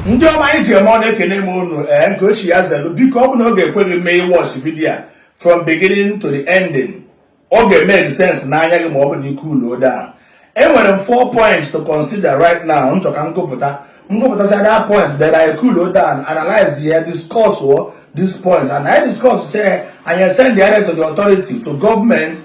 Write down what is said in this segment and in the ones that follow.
ndị ọma anyị ji eme ọnụ ekene m unu ee eh, nke onye chi ya zelu biko ọ bụ na ọ ga-ekwe gị mee ị watch vidiyo a from beginning to the ending ọ ga-eme sense n'anya gị ma ọ bụ na ị cool down enwere m four points to consider right now m chọ ka m gụpụta m gụpụtasị that point then I cool down analyze ya discuss this point anyị discuss chaa anyị send ya to the authority to government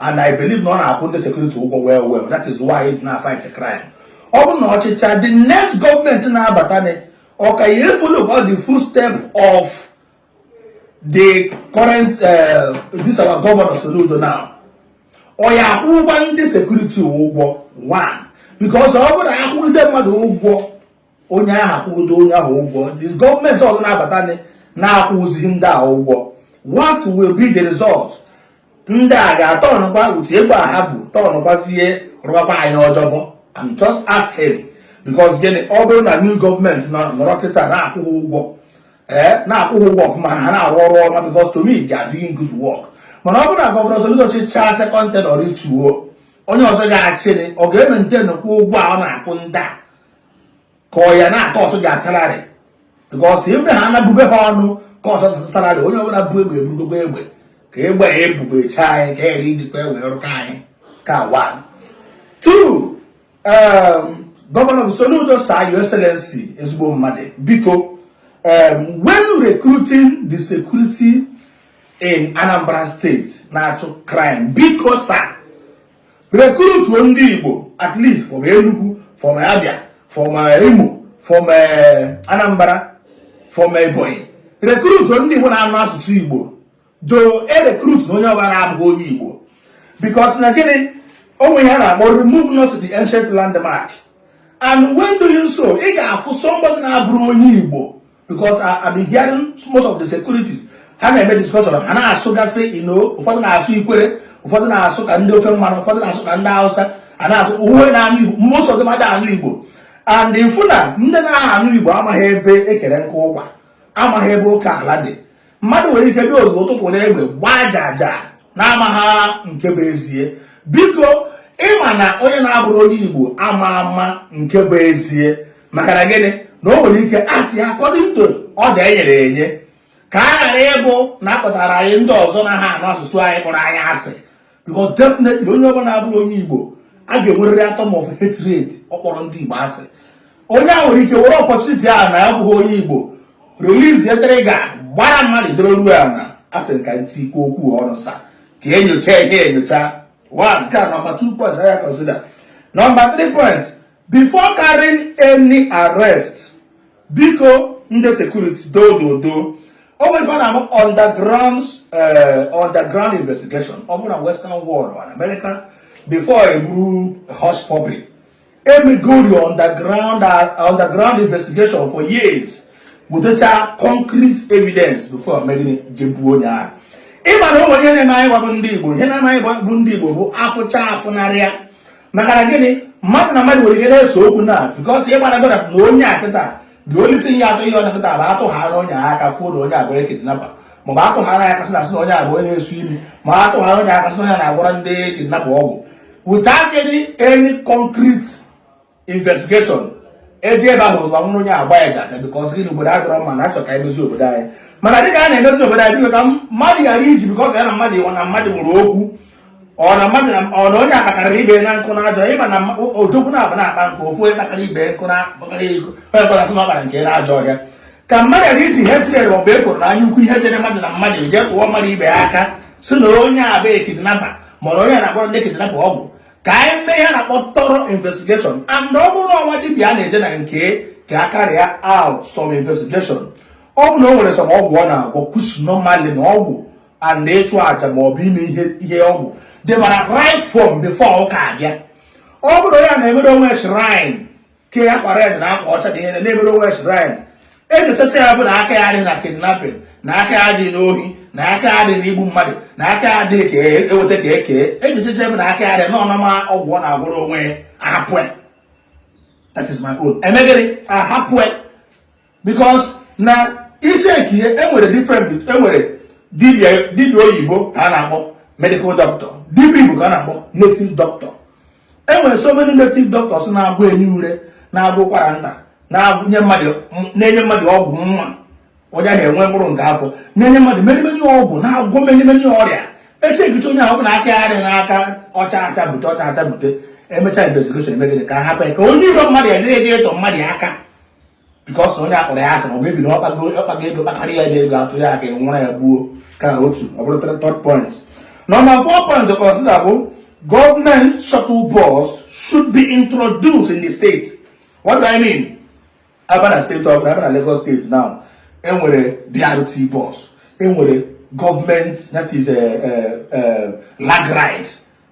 and I believe na ọ na-akwụ ndị sekuriti ụgwọ well well that is why ị fụ ha na-fight crime ọ bụ na ọ chịchaa the next gọọmenti na-abatanụ ọ ka ya follow all the footstep of the current uh, this our governor Soludo now ọ ya akwụkwa ndị sekuriti ụgwọ one because ọ bụrụ na a kwụgide mmadụ ụgwọ onye ahụ a kwụgide onye ahụ ụgwọ the gọọmenti ọzọ na-abata na-akwụzighị ndị a ụgwọ what will be the result ndị a ga-atọnụkwa utu egbe a ha bu tọnụkwazie rụbakwa anyị ọjọbọ I'm just asking because gịnị ọ bụrụ na new gọọmenti nọrọ kịta na-akwụ ha ụgwọ ee eh, na-akwụ ha ụgwọ ọfụma ha na-arụ ọrụ ọma because to me they are doing good work mana ọ bụrụ na gọvanọ Soludo chịchaa second tenure rituo onye ọzọ ga-achịrị ọ ga-emaintainkwa ụgwọ a ọ na-akwụ ndị a ka ọ ya na-akọtụ ha salary because ebe ha na-abube ha ọnụ kọtụ salary onye ọbụla bu egbe ebugogo egbe ka egbe ya ebubecha anyị ghara ijikwa egbe rụkwa anyị aka one two um, gọvanọ Soludo Sir Your Excellency ezigbo mmadụ biko um, when recruiting the security in Anambra State na-achụ crime biko sir rekrutuo ndị Igbo at least from Enugu from Abia from eh, Imo from eh, Anambra from eh, Ebonyi rekrutuo ndị Igbo na-anụ asụsụ Igbo doo erekrutna onye ọbụla abụghị onye Igbo because na gịnị o nwe ihe a na-akpọ remove not the ancient landmark and when doing so ị ga-afụ somebody na-abụrọ onye Igbo because I, I've been hearing most of the securities ha na-eme discussion ha na-asụgasị you know ụfọdụ na-asụ ikwere ụfọdụ na-asụ ka ndị ofe mmanụ ụfọdụ na-asụ ka ndị hausa a na-asụ uwe na anụ igbo most of them ada anụ igbo and ị fụ na ndị na-aha anụ igbo amaghị ebe e kere nkụ ụkwa amaghị ebe oke ala dị mmadụ nwere ike bịa ozugbo tụpụ na egbe gbaa aja aja na-amaghị nke bụ ezie biko ị ma na onye na-abụrọ onye igbo ama ama nke bụ ezie maka na gịnị na o nwere ike actịa according to order e nyere enye ka a ghara ịbụ na a kpọtara anyị ndị ọzọ na-aha anụ asụsụ anyị kpọrọ anyị asị because definitely onye ọbụla abụrọ onye Igbo a ga-enwerịrị atom of hatred ọ kpọrọ ndị Igbo asị onye a nwere ike were opportunity a na ya abụghị onye Igbo release trigger gbara mmadụ idoro ruo ya na asị nka ntị ikwu okwu ọrụ sir ka e nyocha ihe enyocha one nke a number two point a ya consider number three point Before carrying any arrest, biko ndị security doo n'udo o nwere ife a na-ama underground eh, underground investigation ọ bụrụ na western world or america before eburu Hushpuppi emegori underground underground investigation for years wetacha concrete evidence before eme gịnị jee buo onye ahụ ịma na o nwere ihe na-eme anyị bụ ndị igbo ihe na-eme anyị bụ ndị igbo bụ afụcha afụnarịa maka na gịnị mmadụ na mmadụ nwere ike na-ese okwu na because ihe gbara gọda na onye a kịta dị olite ihe atọ ihe ọ na-akịta bụ atụ ha na onye aka kwuo na onye a bụ kidnapper maọbụ atụ ha na ya aka sị na asị na onye a bụ onye na-esu imi ma atụ ha na onye aka sị na onye a na-agwọrọ ndị kidnapper ọgwụ without any any concrete investigation eji ebe ahụ ụzọ nwụrụ onye a gbaa ya jaja because gịnị obodo adịrọ mma na achọ ka emezi obodo anyị mana dịka a na-emezi obodo anyị biko ka mmadụ ghara iji because ya na mmadụ ịwa na mmadụ nwere okwu ọ na mmadụ na ọ na onye akpakara ibe na nkụ na ajọ ịma na odogwu na-abụ na-akpa nkụ ofu onye kpakara ibe nkụ na akpakara ego onye kpọrọ asị ọ kpara nkụ na ajọ ọhịa ka mmadụ ghara iji ihe tinyere maọbụ ekworo na anya ukwu ihe dịrị mmadụ na mmadụ ije tụọ mmadụ ibe ya aka sị na onye a bụ a kidnapper maọbụ onye na-agwọrọ ndị kidnapper ọgwụ ka anyị mee ihe a na-akpọ thorough investigation and ọ bụrụ na o nwee dibịa a na-eje na nke ka a carry out some investigation ọ bụ na o nwere some ọgwụ ọ na-agwọ because normally na ọgwụ and ịchụ aja ma ọ bụ ime ihe ihe ọgwụ dịbara right from before ụka abịa ọ bụrụ ya na-emere o nwe shrine ke ya kpara eze na akwa ọcha dị ihe na-emere o nwe shrine enyochacha ya bụ na aka ya adịghị na kidnapping na aka ya adịghị n'ohi na aka ya adịghị n'igbu mmadụ na aka ya adịghị ka eweta ka eke enyochacha bụ na aka ya adịghị na ọ normal ọgwụ ọ na-agwọrọ onwe ya ahapụ that is my own eme gịnị ahapụ because na i checkie enwere different enwere dibia dibia oyibo ka a na-akpọ medical doctor dibia igbo ka a na-akpọ native doctor enwere so many native doctors na-agwọ enyi ure na-agwọ ụkwara nta na-enye mmadụ ọgwụ nwa onye ahụ enwe mkpụrụ nke afọ na-enye mmadụ many many ọgwụ na-agwọ many many ọrịa e checkichaa onye ahụ na aka ya dị n'aka ọcha aka bute ọcha ata bute emechaa investigation eme gịnị ka ha hapụ ya ka onye iro mmadụ ya dịrị eje ịtụ mmadụ ya aka because onye akpọrọ ya asị ma ọ bụ maybe ọ kpago ọ kpago ego kpakarịa ya ego atụ ya aka nwụrụ ya gbuo ka ọkụkọ ọ bụrụ third point number four point to consider bụ government shuttle bus should be introduced in the state what do i mean a bana state ọbụla a bana Lagos state now enwere BRT bus enwere government that is a, a, a Lagride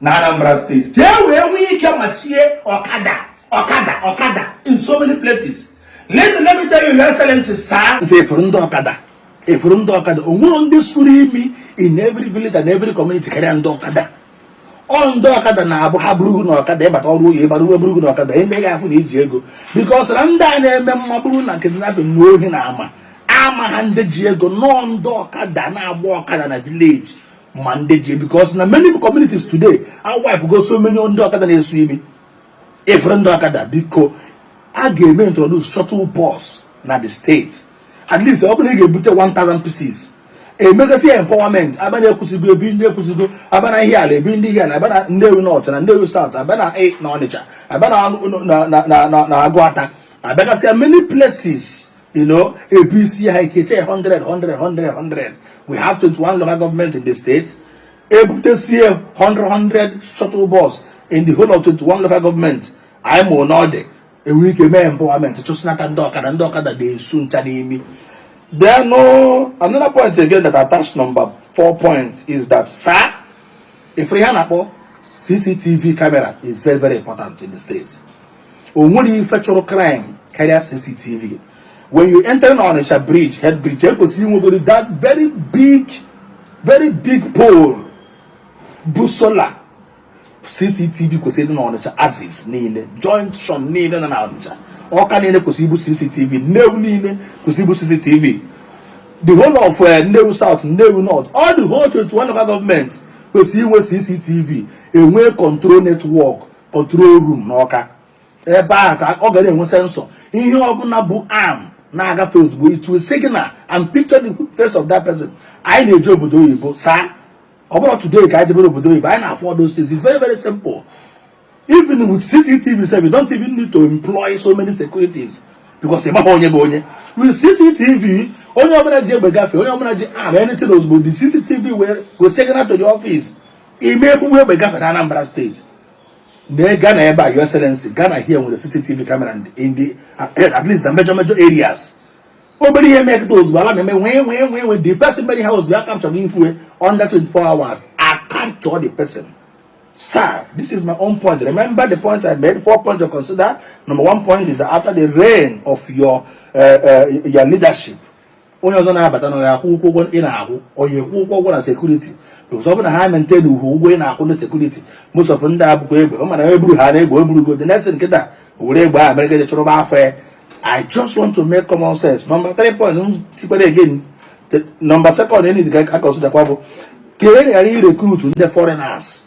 na Anambra state ka e wee nwee ike machie ọkada ọkada ọkada in so many places listen let me tell you your excellency sir m sị ị fụrụ ndị ọkada ị fụrụ ndị ọkada o nwerọ ndị suru imi in every village and every community karịa ndị ọkada ọ ndị ọkada na-abụ ha buru gụ na ọkada ị bata ọrụ oyi ịbara uwe buru gụ na ọkada ndị ga-afụ na i ji ego because na ndị a na-eme ma ọ bụrụ na kidnapping na ohi na ama amaha ndị ji ego no ọ ndị ọkada na-agba ọkada na village ma ndị ji because na many communities today a wipego so many ndị ọkada na-esu imi ị fụrụ ndị ọkada biko a ga-eme introduce shuttle bus na the state at least ọ bụrụ na ị ga-ebute 1000 pieces e megasịa empowerment a baa na Ekwusigo ebi ndị Ekwusigo a baa na Ihiala ebi ndị Ihiala a baa na Nnewi North na Nnewi South a baa na e, na Ọnịcha a baa na Aguata a bịagasịa many places You know, APC Haikeche 100, 100, 100, 100. We have 21 local government in the state. Ebutesie 100, 100 shuttle bus in the whole of 21 local government. I'm on order. enwere ike mee empowerment chụsịnata ndị ọkada ndị ọkada ga-esu ncha n'imi then no uh, another point again that attached number four point is that sir if ihe a na-akpọ cctv camera is very very important in the state o nwerọ ife chụrụ crime karịa CCTV when you enter na Onitsha bridge head bridge e kwesịrị inwegodi that very big very big pole bụ solar CCTV kwesịrị na Onitsha axis niile junction niile na na Onitsha Ọka niile kwesịrị ibu CCTV Nnewi niile kwesịrị ibu CCTV the whole of uh, Nnewi South Nnewi North all the whole 21 local government kwesịrị inwe CCTV e nwee control network control room n'Ọka ebe ahụ ka ọ gara enwe sensor ihe ọbụla bụ arm na-agafe ozugbo it will signal and picture the face of that person anyị na-eje obodo oyibo sir ọ bụrọ today ka anyị jebere obodo oyibo anyị na-afụ all those things it's very very simple even with cctv sef you don't even need to employ so many securities because ị maha onye bụ onye with cctv onye ọbụla ji egbe gafee onye ọbụla ji arm anything ozugbo the cctv will will signal to the office ị ma ebu egbe gafere Anambra state na Ghana ebe a your excellency Ghana here nwere CCTV camera in the eh, at least the major major areas obere ihe mekịta ozugbo alarm na-eme nwee nwee nwee nwee the person mere ihe a ozugbo a capture ya under 24 hours a capture the person sir this is my own point remember the point I made four points to consider number one point is after the reign of your uh, uh, your leadership onye ọzọ na-abata na ya akwụkwa ụgwọ ị na-akwụ ọ ya akwụkwa ụgwọ na security because ọ bụrụ na ha maintainịhọ ụgwọ ị na-akwụ ndị security most of ndị a bukwa egbe ọ mana eburu ha na egbe eburugo the next thing kịta were egbe ahụ mere gaje chụrụba afọ ya i just want to make common sense nọmba 3 points m sịkwara again nọmba second anyị ga-aconsiderkwa bụ ka anyị ghara irecruit ndị foreigners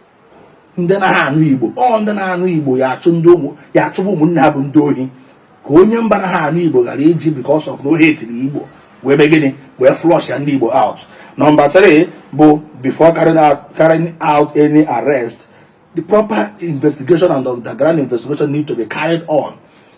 ndị anaha anụ igbo ọ ndị na-anụ igbo ya achụ ndị ụmụ ya achụba ụmụnne ha bụ ndị ohi ka onye mba anaha anụ igbo ghara iji because of na ọ hate-iri igbo wee mee gịnị wee flushịa ndị igbo out nọmba 3 bụ before carrying out, carrying out any arrest the proper investigation and underground investigation need to be carried on